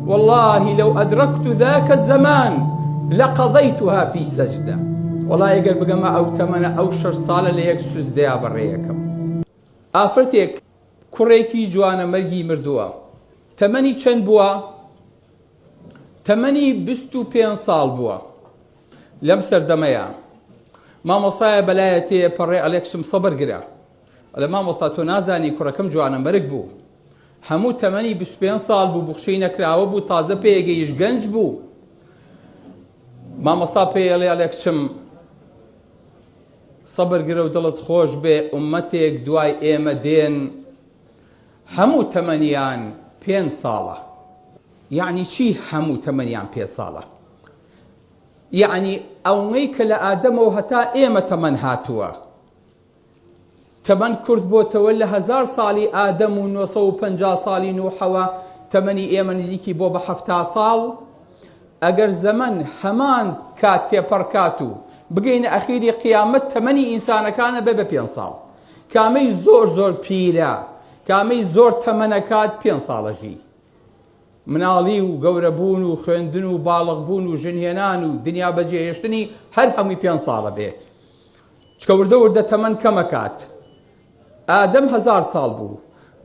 واللە لو ئەدرەکت ذاکە زەمان لە قەضەیتها فی سەجدە وڵا ئەگەر بگەمە ئەو تەمەە ئەو شش ساڵە لە یەک سوزدەیا بەڕێیەکەم ئافرەتێک کوڕێکی جوانە مەرگی مردووە تەمەنی چەند بووە تەمەنی بیست و پێ ساڵ بووە لەم سەردەمەیە مامۆسایە بەلایەتێ پەڕێ ئەلێکسم سەبەر گرە ئەڵێ مامۆستا تۆ نازانی کوڕەکەم جوانەمەرگ بوو هەموو تەمەنی 25 ساڵ بوو بخشەی نەکراوە بوو تازە پێگەیش گەنج بوو مامۆستا پێڵێ ئەڵێ کچم سەبر گرە و دڵت خۆش بێ ئومەتێک دوای ئێمە دێن هەموو تەمەنیان پێ ساڵە یعنی چی هەموو تەمەنیان پێ ساڵە یعنی ئەوەی کە لە ئادەمەوە هەتا ئێمە تەمەەن هاتووە تەمەن کورت بۆتەوە لە هەزار ساڵی ئادەم و نۆ سەد و پەنجا ساڵی نوحەوە تەمەنی ئێمە نزیکی بۆ بە حەفتا ساڵ ئەگەر زەمەن هەمان کات تێپەڕ کات و بگەینە ئەخیری قیامەت تەمەنی ئینسانەکانە بێ بە پێنج ساڵ کامەی زۆر زۆر پیرە کامەی زۆر تەمەنەکات پێ ساڵەژی مناڵی و گەورەبوون و خوێندن و باڵغبوون و ژنهێنان و دنیا بەجێهێشتنی هەر هەمووی پێ ساڵە بێ چکە وردە وردە تەمەن کەمەکات ئادەم هەزار ساڵ بوو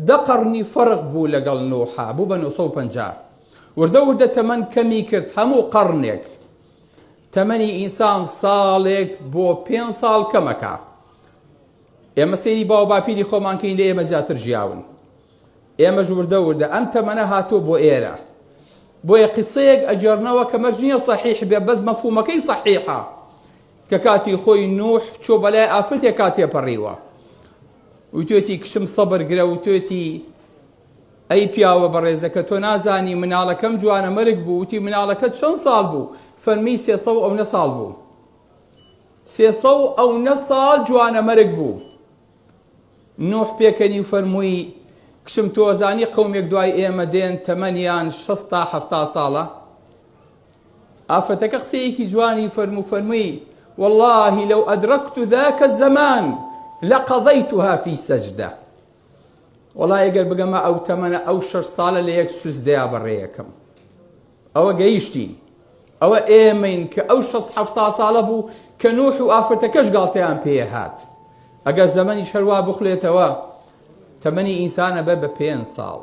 دە قەڕنی فەرق بوو لەگەڵ نوحا بوو بە 950 وردە وردە تەمەن کەمی کرد هەموو قەڕنێک تەمەنی ئینسان ساڵێک بۆ پێ ساڵ کەمەکە ئێمە سێری باو باپیری خۆمانکەین لە ئێمە زیاتر ژیاون ئێمە ژوردە وردە ئەم تەمەە هاتووە بۆ ئێرە بۆیە قسەیەک ئەجێرنەوە کە مەرج نییە صحیح بێ بەس مەفومەکەی صحیحە کە کاتی خۆی نوح چۆ بەلای ئافرەتێکا تێپەڕیوە وتێتی کچم سەبر گرە وتێتی ئەی پیاوە بەڕێزەکە تۆ نازانی مناڵەکەم جوانە مەرگ بوو وتی مناڵەکە چەند ساڵ بوو فەرمی سێسە و ئەو نە ساڵ بوو سێسە و ئەو نە ساڵ جوانە مەرگ بوو نوح پێکەنی و فەرمووی کچم تۆزانی قومێک دوای ئێمە دێن تەمەنیان شەستا هەفتا ساڵە ئافرەتەکە قسەیەکی جوانی فەرموو فەرمووی واللهی لەو ئەدرەکت ذاکە زەمان لەقەضەیتها فی سەجدە وەڵا ئەگەر بگەمە ئەو تەمەنە ئەو شەش ساڵە لە یەک سوزدەیا بەڕێیەکەم ئەوە گەیشتین ئەوە ئێمەین کە ئەو شەست حەفتا ساڵە بوو کە نوح و ئافرەتەکەش گاڵتەیان پێیە هات ئەگەر زەمەنی شەروا بخلێتەوە تەمەنی ئینسانە بە بە پێنج ساڵ